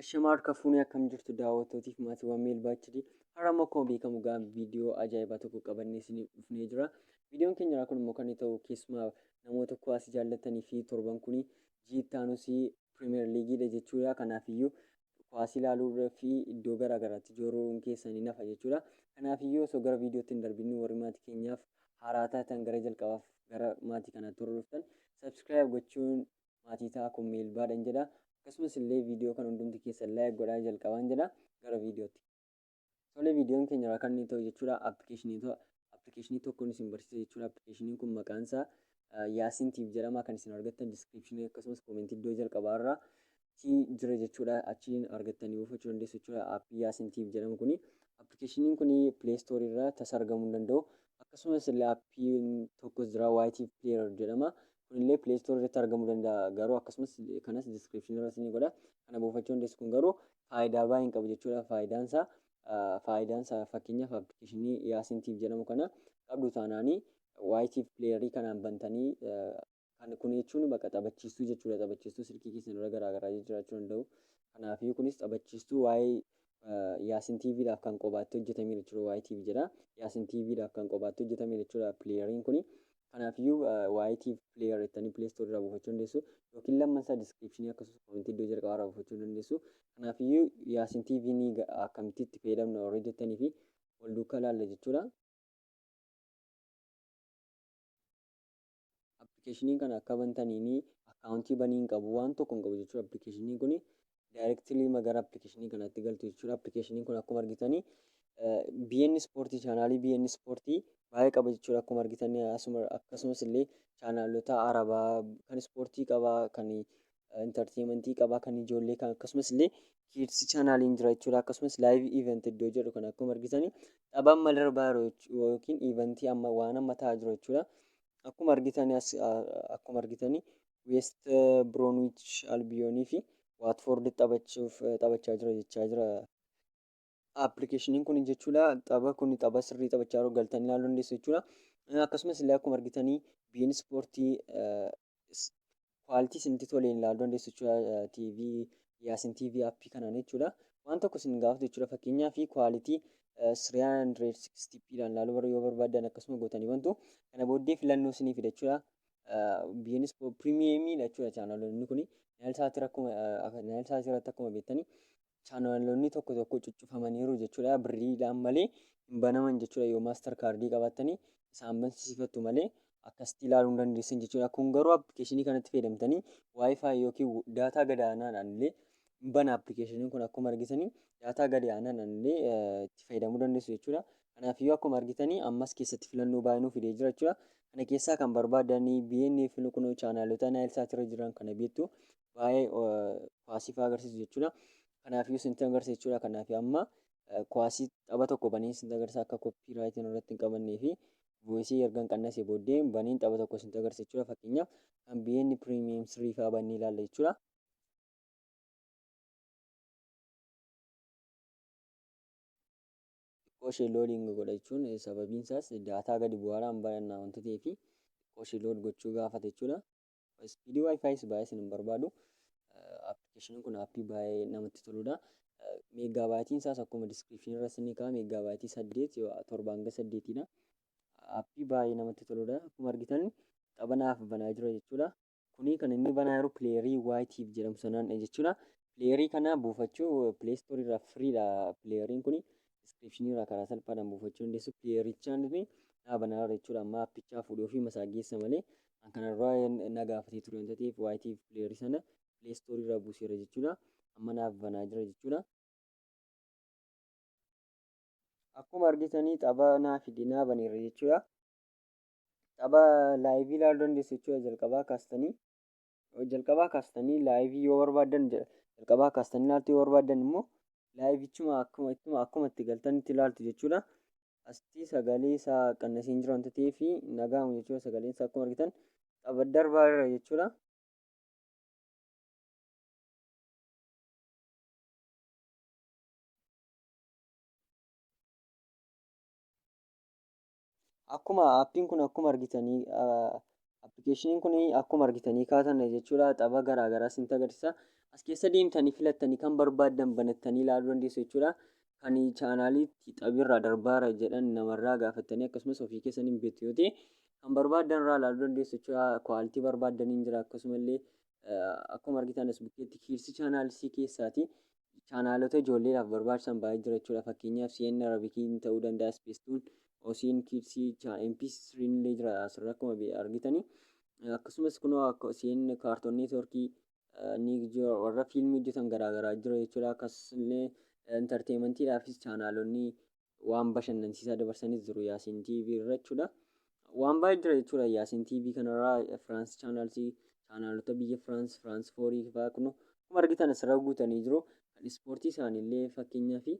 Ashamaa harka fuunee akkam jirtu daawwattootiif maatiiwwan Meelbaa HD. Har'a immoo akkuma beekamu gaa viidiyoo ajaa'ibaa tokko qabannee isiniif dhufnee jira. Viidiyoon keenya irraa kun immoo kan inni ta'u keessumaa namoota kuwaasii jaallattanii fi torban kun jiittaanus pirimeer liigiidha jechuudha. Kanaafiyyuu kuwaasii ilaaluu fi iddoo garaa garaatti jooruun keessanii nafa jechuudha. Kanaafiyyuu osoo gara viidiyootti hin darbinni warri maatii keenyaaf haaraa taatan gara jalqabaaf gara maatii kanaatti hordoftan sabskiraayib gochuun maatii ta'a kun miilbaadhan jedha akkasumas illee viidiyoo kan hundumti keessan like godhaa jalqabaan jedha gara viidiyootti Tole viidiyoon keenya irraa kan inni ta'u jechuudha appilikeeshinii appilikeeshinii tokkoon isin barsiisa jechuudha appilikeeshiniin kun maqaan isaa yaasin tiif jedhama kan isin argattan diskiripshinii akkasumas koomentii iddoo jalqabaa irraa ti jira jechuudha achiin argattanii buufachuu dandeessu jechuudha appii yaasin tiif jedhamu kuni appilikeeshiniin kuni pileestoorii irraa tasa argamuu hin danda'u akkasumas illee appiin tokkos jira waayitiif pileerar jedhama kunillee play store irratti argamuu danda'a garuu akkasumas kanas description irra isinii godha kana buufachuu dandeessu kun garuu faayidaa baay'ee hin qabu jechuudha faayidaan isaa faayidaan isaa fakkeenyaaf appilikeeshinii yaasin tiif jedhamu kana qabdu taanaanii waayitiif pileeyarii kanaan bantanii kan kun jechuun bakka taphachiistuu jechuudha taphachiistuu silkii keessan irra garaagaraa jiraachuu danda'u kanaaf kunis taphachiistuu waa'ee yaasin tiiviidhaaf kan qobaatti hojjetame jechuudha waa'ee tiivi jedha yaasin tiiviidhaaf kan qobaatti hojjetame jechuudha pileeyariin kuni Kanaafiyyuu YTV player jettanii play store irraa buufachuu dandeessu. Yookiin lamman isaa description akkasumas comment iddoo jalqabaa irraa buufachuu dandeessu. Kanaafiyyuu Yaasin TV ni akkamitti itti fayyadamna warri jettanii fi wal duukaa ilaalla jechuudha. Appilikeeshiniin kana akka bantaniin akkaawuntii banii hin qabu waan tokko hin qabu jechuudha appilikeeshiniin kuni. directly ma gara application kanatti galtu jechuudha. Application kun akkuma argitanii BN Sport chaanaalii BN Sport baay'ee qaba jechuudha. Akkuma argitan asuma akkasumas illee chaanaalota arabaa kan ispoortii qaba, kan intarteementii qaba, kan ijoollee kan akkasumas illee kids chaanaaliin jira jechuudha. Akkasumas live event iddoo jedhu kan akkuma argitan tapha amma darbaa jiru jechuu- yookiin eventii amma waan amma ta'aa jiru jechuudha. Akkuma argitan as- akkuma argitanii Weest Biroonwiich Albiyoonii fi Waatfoord taphachuuf taphachaa jira jechaa jira. Appilikeeshiniin kun jechuudha tapha kun tapha sirrii taphachaa jiru galtanii ilaaluu dandeessu jechuudha. Akkasumas illee akkuma argitanii biin ispoortii kwaaltii isinitti toleen ilaaluu dandeessu jechuudha. TV yaasin TV appii kanaan jechuudha. Waan tokko isin gaafatu jechuudha fakkeenyaa fi kwaalitii 360p dhaan ilaaluu yoo barbaadan akkasuma gootanii bantu. Kana booddee filannoo isinii fida jechuudha. biyyoonnis piriimiyeemii jechuudha chaanaloonni kun naayilsaati rakkuma naayilsaati irratti akkuma beektanii chaanaloonni tokko tokko cuccufamaniiru jechuudha birriidhaan malee hin banaman jechuudha yoo maastar kaardii qabattanii isaan bansiifattu malee akkasitti ilaaluu hin dandeessan jechuudha kun garuu appilikeeshinii kanatti fayyadamtanii waayifaayi yookiin daataa gadaanaadhaan illee hin bana application kun akkuma argitani daataa gadi aanan illee itti fayyadamuu dandeessu jechuudha. Kanaafiyyuu akkuma argitani ammas keessatti filannoo baay'ee nuuf fidee jira jechuudha. Kana keessaa kan barbaadanii BN filuu kunoo chaanaalota Naayilsaat irra jiran kana beektu baay'ee kuwaasii fa'aa agarsiisu jechuudha. Kanaafiyyuu isintti agarsiisa jechuudha. Kanaaf amma kuwaasii tapha tokko banii isintti agarsiisa akka koppii raayitiin irratti hin qabannee fi voisii erga hin qannasee booddee baniin tapha tokko isintti agarsiisa jechuudha. Fakkeenyaaf kan BN Premium 3 fa'aa bannee ilaalla jechuudha. xiqqoo ishee loodiin godha jechuun sababiin isaas daataa gadi bu'aadhaan baranna wanti ta'ee fi xiqqoo ishee lood gochuu gaafata jechuudha. Ispiidii wifi's baay'ee isin hin barbaadu. Appilikeeshiniin kun appii baay'ee namatti toludha. Meegaa baayitiin isaas akkuma diskiripshinii irra isin kaa'e meegaa baayitii saddeet torba hanga saddeetiidha. Appii baay'ee namatti toludha. Akkuma argitan taphanaaf banaa jira jechuudha. Kuni kan inni banaa yeroo pileerii YTV jedhamu sanaan jechuudha. Pileerii kana buufachuu pileestoorii irraa firiidha pileeriin kuni. Diskiripshinii irraa karaa salphaadhaan buufachuu dandeessu. Pileerichaan nuti dhaabana irra jechuudha. Amma appichaa fuudhee ofii masaa geessa malee an kana dura na gaafatee ture waan ta'eef YTV pileerii sana pileestoorii irraa buuseera jechuudha. Amma naaf banaa jira jechuudha. Akkuma argitanii xaba naa fide naa baneera jechuudha. Tapha laayivii ilaaluu dandeessu jechuudha jalqabaa kaastanii. Jalqabaa kaastanii laayivii yoo barbaaddan jalqabaa kaastanii ilaaltu yoo barbaaddan immoo laayivichuma akkuma ittuma akkuma itti galtan itti ilaaltu jechuudha. Asitti sagalee isaa qannasiin jiru wanta ta'eef nagaamu jechuudha sagaleen isaa akkuma argitan tapha darbaa irra jechuudha. Akkuma appiin kun akkuma argitanii appikeeshiniin kun akkuma argitanii kaatan jechuudha tapha garaa garaa isinitti agarsiisa. As keessa deemtanii filattanii kan barbaaddan banattanii ilaaluu dandeessu jechuudha. Kan chaanaaliitti taphiirraa darbaara jedhan namarraa gaafattanii akkasumas ofii keessan hin beektu yoo ta'e kan barbaaddan irraa ilaaluu dandeessu jechuudha. Kwaaltii barbaaddaniin jira akkasumallee akkuma argitan as bukkeetti kiirsi chaanaalisii keessaati. Chaanaalota ijoolleedhaaf barbaachisan baay'ee jira jechuudha. Fakkeenyaaf CN Arabikii ni ta'uu danda'a, Ispeestuun, OCN Kids, MP3 illee jira asirra akkuma be- argitani. Akkasumas kunoo akka CN Kaartoon Neetworkii eh, ni jira warra fiilmii hojjetan garaagaraa jira jechuudha. Akkasumas illee enterteemantiidhaafis chaanaalonni waan bashannansiisaa dabarsanis jiru Yaasiin TV irra jechuudha. Waan baay'ee jira jechuudha Yaasiin TV kanarraa Firaans chaanaalsii chaanaalota biyya Firaans Firaans foorii fa'aa kun akkuma argitan asirra guutanii jiru. Kan ispoortii isaaniillee fakkeenyaa fi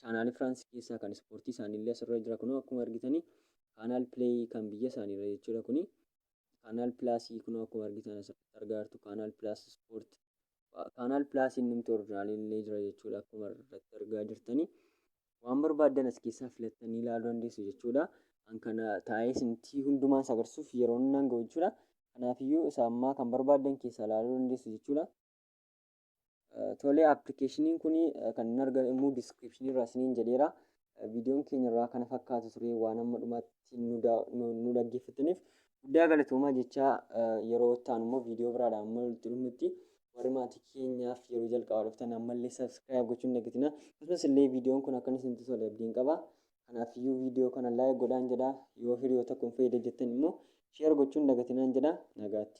chaanaalii Firaans keessaa kan ispoortii isaaniillee asirra jira kun akkuma argitanii kaanaal pileeyii kan biyya isaaniirra jechuudha kuni. Kaanaal pilaasii kun akkuma argitan asirratti argaa jirtu kaanaal pilaas ispoortii kaanaal pilaasii innumti orjinaaliin illee jira jechuudha akkuma irratti argaa jirtanii waan barbaaddan as keessaa filattanii ilaaluu dandeessu jechuudha an kana taa'ee isintii hundumaan isa agarsiisuuf yeroon nan ga'u jechuudha kanaafiyyuu isa ammaa kan barbaaddan keessaa ilaaluu dandeessu jechuudha tolee appilikeeshiniin kun kan hin argamu immoo diskiripshinii irraa isiniin jedheera viidiyoon keenya irraa kana fakkaatu ture waan amma dhumaatti nu daa- nu nu dhaggeeffataniif guddaa galatoomaa jechaa eh, yeroo ittaan immoo viidiyoo biraadhaan amma walitti dhufnutti warri maatii keenyaaf yeroo jalqabaa dhuftan ammallee sabiskiraayib gochuun dagatina akkasumas illee viidiyoon kun akka isinitti tole abdiin qaba kanaaf iyyuu viidiyoo kana laayik godhaan jedha yoo hiriyoota kun fayyada jettan immoo sheer gochuun dagatinaan jedha nagaatti.